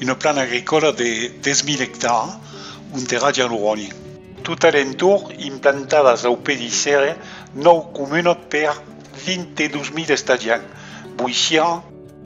Una plana agricòla de 10.000 ectars ont era ja lo ròni. Tot a l'entorn, implantadas au pedi serre, nòu comunat per 22.000 estadiants, boissián,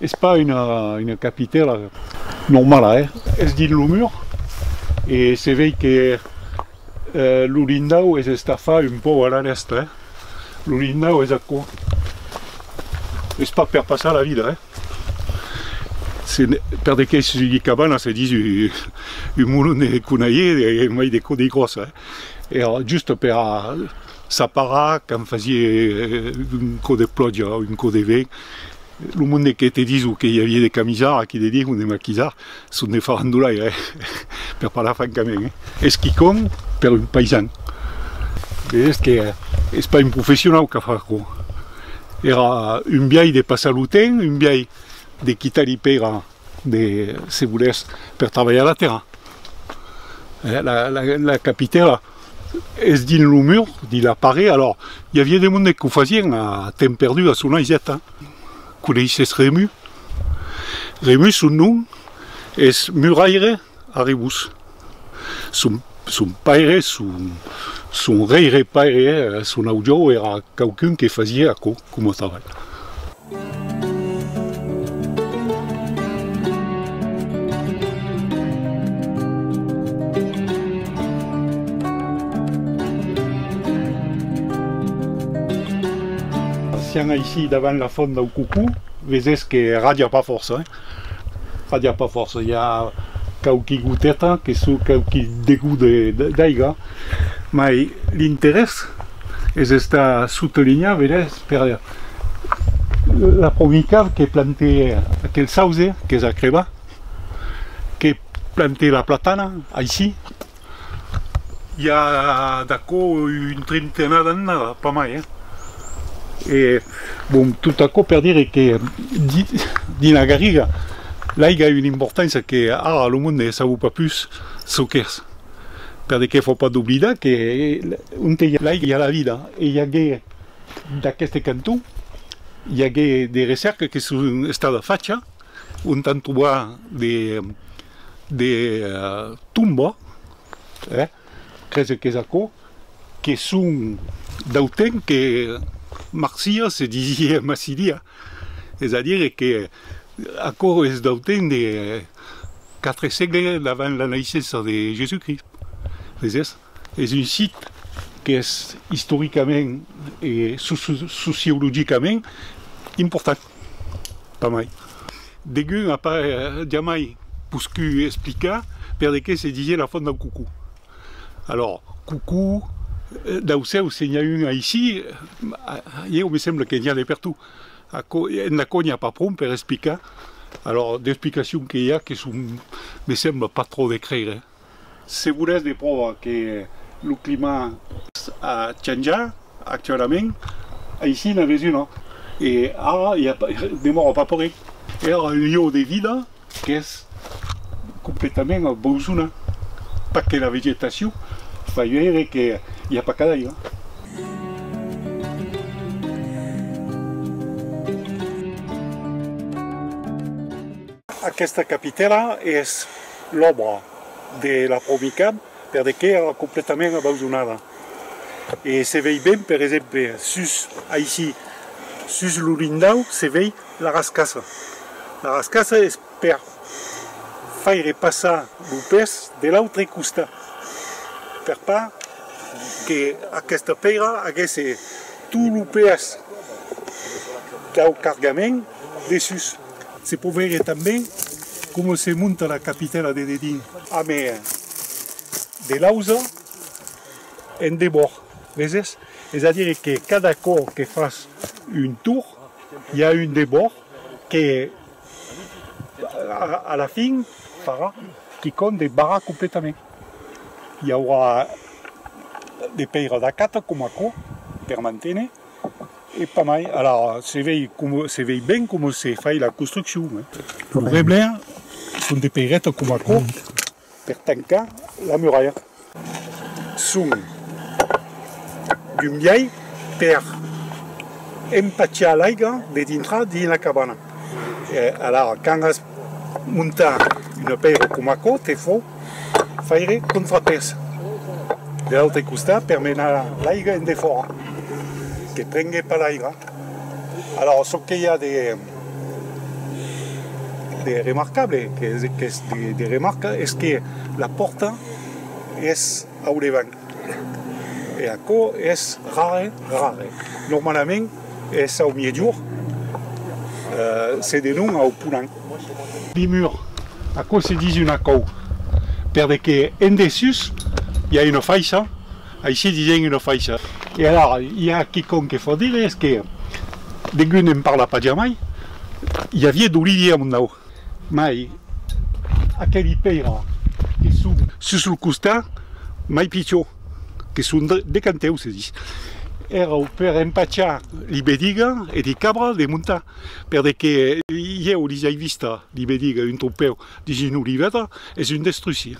Es pas una capitèla normala, eh? Es dins lo mur e se vei que lo lindau es estafat un pauc a la dèstra, eh? Lo lindau es aquò. Es pas per passar la vida, eh? Se per de quèis ui cabana se dis un molon de conaier mai de gròssa, eh? Era just per Sa para, quand fasie un cò de plòja o un cò de vent, lo monde que te diso que i avie de camisar, aquí de dir o de maquisar, son de farandolaire, eh! per parlar francament, eh! Es quicòm per un paisan. Vedètz que es pas un professionau qu'a fach aquò. Èra un biais de passar lo temps, un biais de quitar-li pèira De se volèrs per trabalhar la tèrra. La capitèla es dins lo mur, dins la paret, alors i aviá de monde qu'o fasien a temps perdu a son aiseta. Coneisses Rému? Rému, son nom es muraire. Arribus. Son, son paire, son, son reire paire, son aujòu èra quauqu'un que fasie aquò coma trabalh. Sián aicí davant la fònt dau Cucú, vesés que radia pas fòrça. Aviá pas fòrça, i a quauqui goteta que çò, quauqui degut d'aiga, mai l'interès es estat sotelinhat, vedètz, per la pomica que plantè aquel sauze qu'es a crebar, que plantè la platana aicí, I a d'aquò un trentenat d'annada, pas mai, eh? E, bon, tot aquò per dire que dins la Garriga l'aiga a una importància que ara lo monde ne sabó pas pus çò qu'es, per de qué fò pas d'oblidar que onte i a l'aiga i a la vida, e i agué d'aqueste canton i agué de recèrca que son estada facha, On t'en trobar de de tomba, eh, crese qu'es aquò, que son dau temps que marcia se disie massidia, es a dire que aquò es dau temps de quatre sègle davant la naissença de Jesús Crist, veses? Es un sit qu'es istoricament e sociologicament important. Pas mai. Degun a pas jamai poscu explicar per de qué se disié la font dau Cucú. Alors, Cucú, dau cèu se n'i a un aicí, ieu me sembla que n'i a de pertout. Aquò, entà quò n'i a pas pron per explicar. Alors, d'explicacions que i a que son, me sembla, pas trop de creire. Segures de pròva que lo climat. A chanjar actualament, aicí n'avètz una, e ara i a demòra pas paurèi, èra un lieu de vida qu'es completament abandonat, pas que la vegetacion, pas gaire que i a pas cadaira. Aquesta capitèla es. l'òbra de la Promicab per de qué èra completament abandonada. E se vei ben, per exemple, sus, aicí, sus lo lindau se vei la rascassa. La rascassa es per faire passar lo pes de l'autre costat, per pas que aquesta pèira agèsse tot lo pes dau cargament dessús. Se pòt veire tanben coma se monta la capitèla de dedin. A mèr de l'ausa en debòrd, veses? Es a dire que cada còp que fas un tour, i a un debòrd que a la fin farà quicòm de barrat completament. I aurà de pèira d'acata coma aquò per manténer. E pas mai, alara se vei com se vei ben com se fai la construccion, lo reblèr son de peireta com aquò per tancar la muralha, son d'un biais per empachar l'aiga de dintrar dins la cabana, alara quand as. Montar un apèiro com aquò te fò faire contrapès de l'autre costat per menar l'aiga en defòra, que prengue pas l'aiga. Alòs çò que i a de remarcable, qu'es de remarca, es que la pòrta es au devant. E aquò es rare, rare. Normalament es au miègjorn, se denon au ponhan. Limur, aquò se ditz un acòu, perde que en dessús i a una faiça, aicí disèm una faiça. E alara i a quicòm que fò dire es que degun en parla pas jamai, i aviá d'olivier a Mondau. Mai aqueli pèira que son sus lo costat mai pichon, que son de canteu se ditz, èrau per empachar li bediga e li cabra de montar, perde que ieu lis ai vista li bediga un tropèu dins una olivèra, es un destrusi,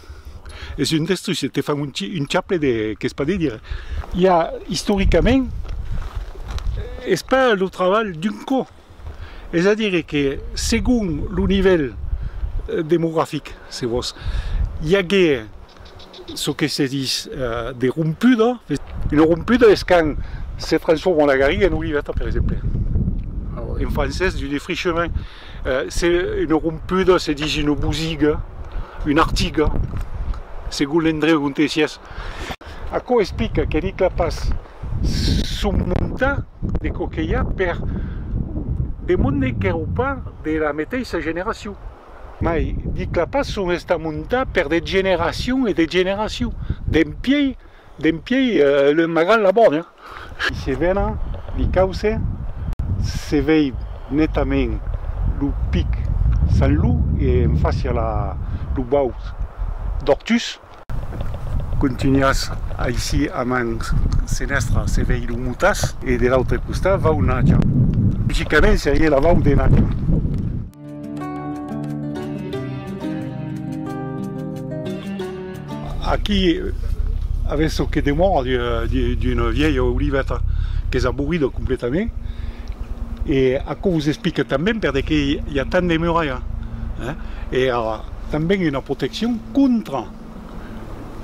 es un destrusi, te fan un chaple de qu'es pas de dire. Ja istoricament es pas lo trabalh d'un cò. Es a dire que segon lo nivèl demografic, se vos, i agué çò que se dis de rompuda. Una rompuda es quand se transforma la garriga en oliveta, per exemple. En francés, du défrichement. Se una rompuda se dis una bosiga, una artiga, segon l'endreu onte sies. Aquò explica que Nicla Pas son monta de coquelha per de monde qu'èro pas de la meteissa generacion. Mai, dic la pas son esta monta per de generacion e de generacion, dempiei, dempiei le magal la bona. Se vena li cauce, se vei netament lo pic San Lou e en fàcia lo baut d'Ortús. Contunhas aicí a man senestra se vei lo Mutas e de l'autre costat vau Nacha. Logicament serie la vau de Nacha. Aquí avètz çò que demòra d'una vièlha oliveta qu'es abolida completament e aquò vos explica tanben per de qué i a tant de muralha. Tanben una proteccion contra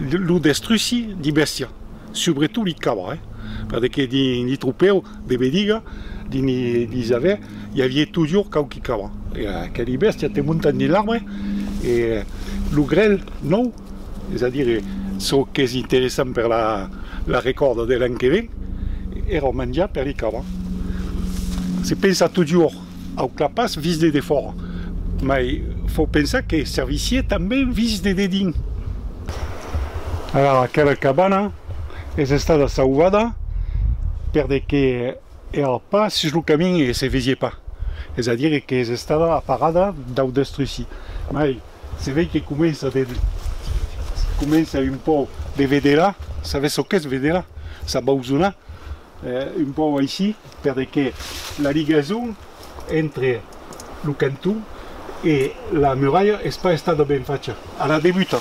lo destruci de bèstia, subretot de cava, eh? Perque que dins li tropèu de Bediga, dins li li javè, i avié tojor quauqui cava. E aqueli bèstia te montan dins l'arbre e lo grèl nòu, es a dire çò qu'es interessant per la la recòrda de l'an que ven, èra manjar per li cava. Se pensa tojor. Au clapàs vist de defòra, mai fau pensar que servissie tanben vist de dedins. Ara aquela cabana es estada sauvada per de que èra pas sus lo camin e se vesie pas, es a dire que es estada aparada dau destrusi. Mai se vei que comença de comença un pòu de vedela, sabes çò qu'es vedela? S'abausona. Un pauc aicí, perque la ligason entre lo canton e la muralha es pas estada ben facha a la debuta.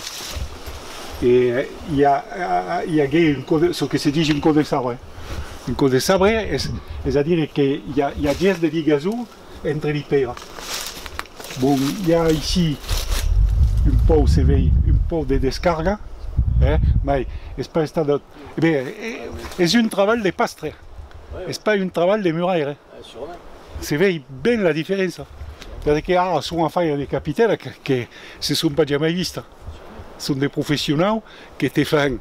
E i agué un cò de, çò que se dich un cò de sabre. Un cò de sabre, es a dire que i a ges de ligason entre li pèira. Bon, i a aicí un pauc, se vei un pauc de descarga, mai es pas estada. Eh ben, es un trabalh de pastre, es pas un trabalh de muraire. Se vei ben la diferença, perque que ara son a faire de capitèla que se son pas jamai vista. Son de professionau que te fan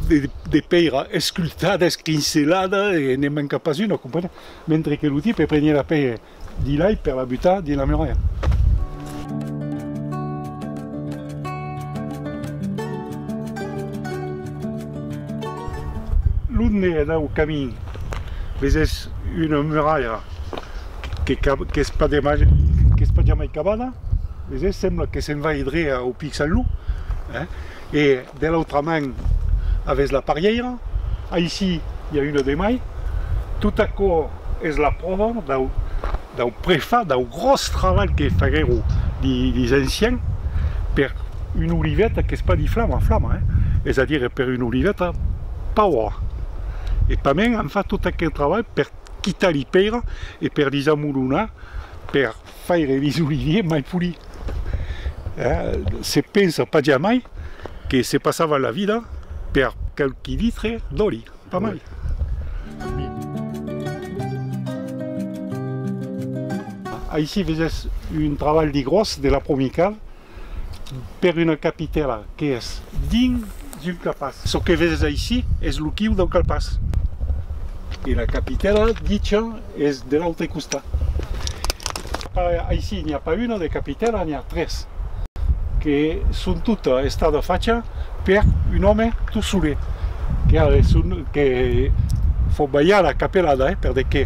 de pèira escultada, escrincelada e ne manca pas una, comprenèt? Mentre que lo tipe prenièt la pèira Di l'ai per la butar dins la muralha. L'onde e dau camin vesés una muralha qu'es pas jamai cabada, vesés? Sembla que se'n vai dreh au pic Saint-Loup e De l'autra man avètz la parièira, aicí i a una de mai. Tot aquò es la pròva dau prefat, dau gròs trabalh que faguèron dis anciens per una oliveta qu'es pas diflama, flama, es a dire per una oliveta paura. E tanben an fat tot aquel trabalh per quitar li pèira e per li zamolonar, per. Faire bisolivier mai poli. Se pensa pas jamai que se passava la vida per quauqui litre d'òli, pas mai. Aicí vesètz un trabalh de gròs de la Promical per una capitèla qu'es dins un calpàs. Çò que vèses aicí es lo quiu dau calpàs e la capitèla dicha es de l'autre costat. Aicí n'i a pas una de capitèla, n'i a tres que son tota estada facha per un òme tot solet que fò balhar la capelada, per de que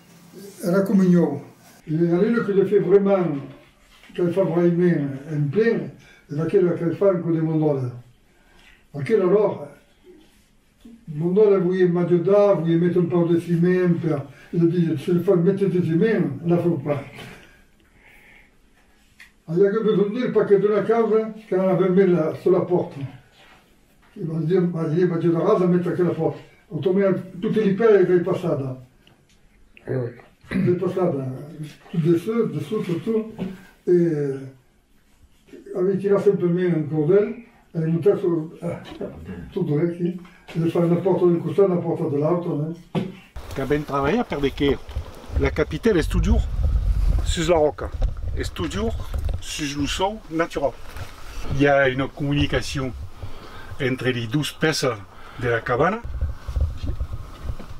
era comunhon. E a mi lo que le fè vraiment qu'ai far vraiment en plen es aquela qu'ai far en cò de mon dòle. Aquela lor, mon dòle volie m'ajodar, volie méter un pauc de ciment per, e le disiet, se le fas méter de ciment, la feu pas. Ai agut besonh d'el perque d'una causa qu'an avèm mes la sola pòrta. E vos diem, mas Ieu m'ajudaràs a metre aquela fòc. Automai a tote li pèri rei passada. Rei passada, tot de sut, de sut, tot, tot. E avei tirat sempre mei un cordèl, avei montat sul, tot drech, e de far una pòrta d'un costat, una pòrta de l'autre, Qu'a ben trabalhat per de que la capitèl es totjorn sus la ròca, es totjorn sus lo sòu naturau. I a una comunicacion entre li dos pèças de la cabana.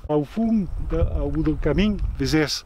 Au fond, au bout del camin, vesètz